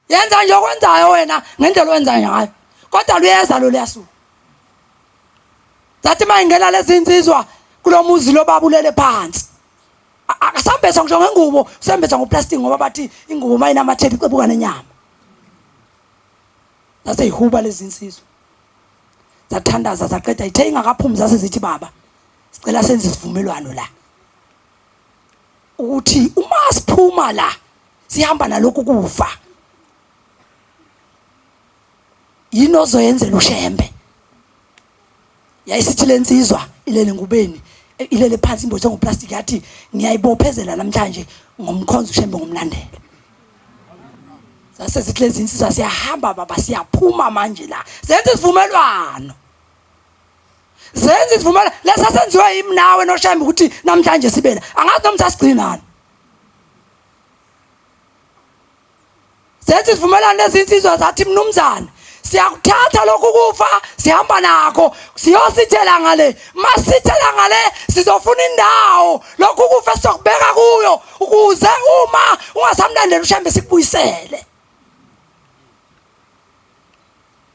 yenza nje okwenzayo wena ngendlela owenza ngayo kodwa luyeza lo liyasuka zathi uma ingena lezi nsizwa kulo muzi lo babulele phansi akasambesa ngisho ngengubo usembesa ngoplastic ngoba bathi ingubo uma inamatheli icebuka nenyama zase yihuba lezi nsizwa zathandaza zaqeda ithe ingakaphumi zase zithi baba sicela senze isivumelwano la ukuthi uma siphuma la sihamba nalokhu kufa yini ozoyenzela ushembe yayisithi lensizwa ilele ngubeni e, ilele phansi imbothi ngoplastic yathi ngiyayibophezela namhlanje ngomkhonzo ushembe ngomlandela sase sithi lezi insizwa siyahamba baba siyaphuma manje la senze isivumelwano zenza izivumela lesa senziwe yimi nawe noshembe ukuthi namhlanje sibena angazi noma sasigcinani zenza izivumelwano lezinsizwa zathi mnumzane siyakuthatha lokhu kufa sihamba nakho siyosithela ngale masithela ngale sizofuna indawo lokhu kufa sizokubeka kuyo ukuze uma ungasamlandeli ushambe sikubuyisele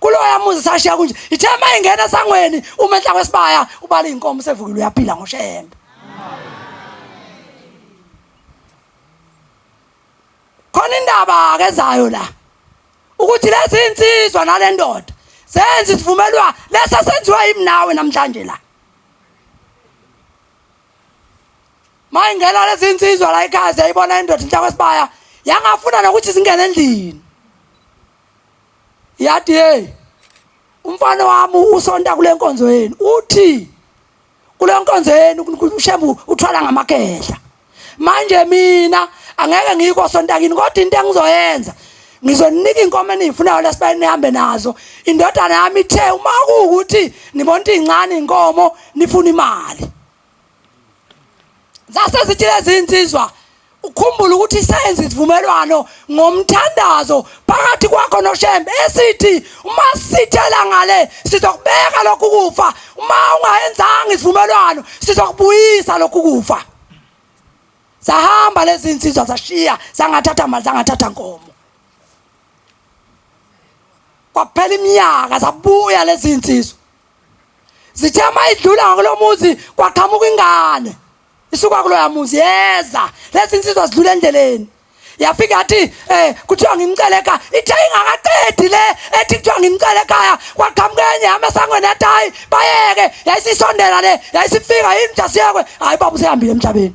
kuloya muzi sashiya kunje ithe uma ingena esangweni uma enhla kwesibaya ubala iy'nkomo usevukile uyaphila ngoshembe khona indaba-ke ezayo la ukuthi lezi nsizwa nale ndoda senze isivumelwa lesi esenziwa yimi nawe namhlanje la ma ingena lezi nsizwa la ekhaya siyayibona indoda inhla kwesibaya yangafuna nokuthi zingene endlini Yathi hey umfana wami usonta kule nkonzo yenu uthi kule nkonzo yenu ushembu uthwala ngamakehla manje mina angeke ngiyikho sontakini kodwa into engizoyenza ngizoninika inkomo eniyifunayo lesibayeni nihambe nazo indodana yami ithe uma kuwukuthi nibona into iy'ncane iy'nkomo nifuna imali zase zithi lezi insizwa ukhumbule ukuthi isenze isivumelwano ngomthandazo phakathi kwakho noshembe esithi uma sithela ngale sizokubeka lokhu kufa uma ungayenzanga isivumelwano sizokubuyisa lokhu kufa sahamba lezi insizwa zashiya sangathatha mali sangathatha nkomo kwaphela iminyaka zabuya lezi insizwa zithe uma idlula ngakulo muzi kwaqhamuka ingane isuka kuloya muzi yeza lezi nsizwa zidlula endleleni yafika yathi um kuthiwa ngimcele ekhaya ithe ingakaqedi le ethi kuthiwa ngimcele ekhaya kwaqhamuka enye yami esangweni yathi hayi bayeke yayisisondela le yayisifika yini mntasiyekwe hhayi baba usehambile emhlabeni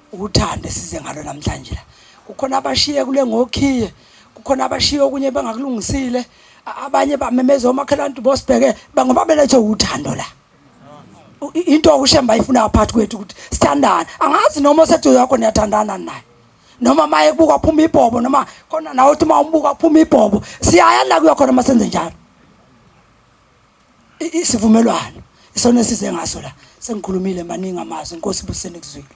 Uthando esize ngalo namhlanje la. Kukhona abashiye kule ngokhiye, kukhona abashiye okunye bangakulungisile, abanye bamemeza omakhelwane bosibheke bangoba belethwe uthando la. Into okushemba ifuna phakathi kwethu ukuthi sithandane. Angazi noma oseduze yakho niyathandana naye. noma maye kubuka phuma ibhobo noma khona nawe uthi uma umbuka phuma ibhobo siyaya la kuyakhona uma senze njalo isivumelwano isona esize ngaso la sengikhulumile maningi amazwi inkosi ibuseni kuzwile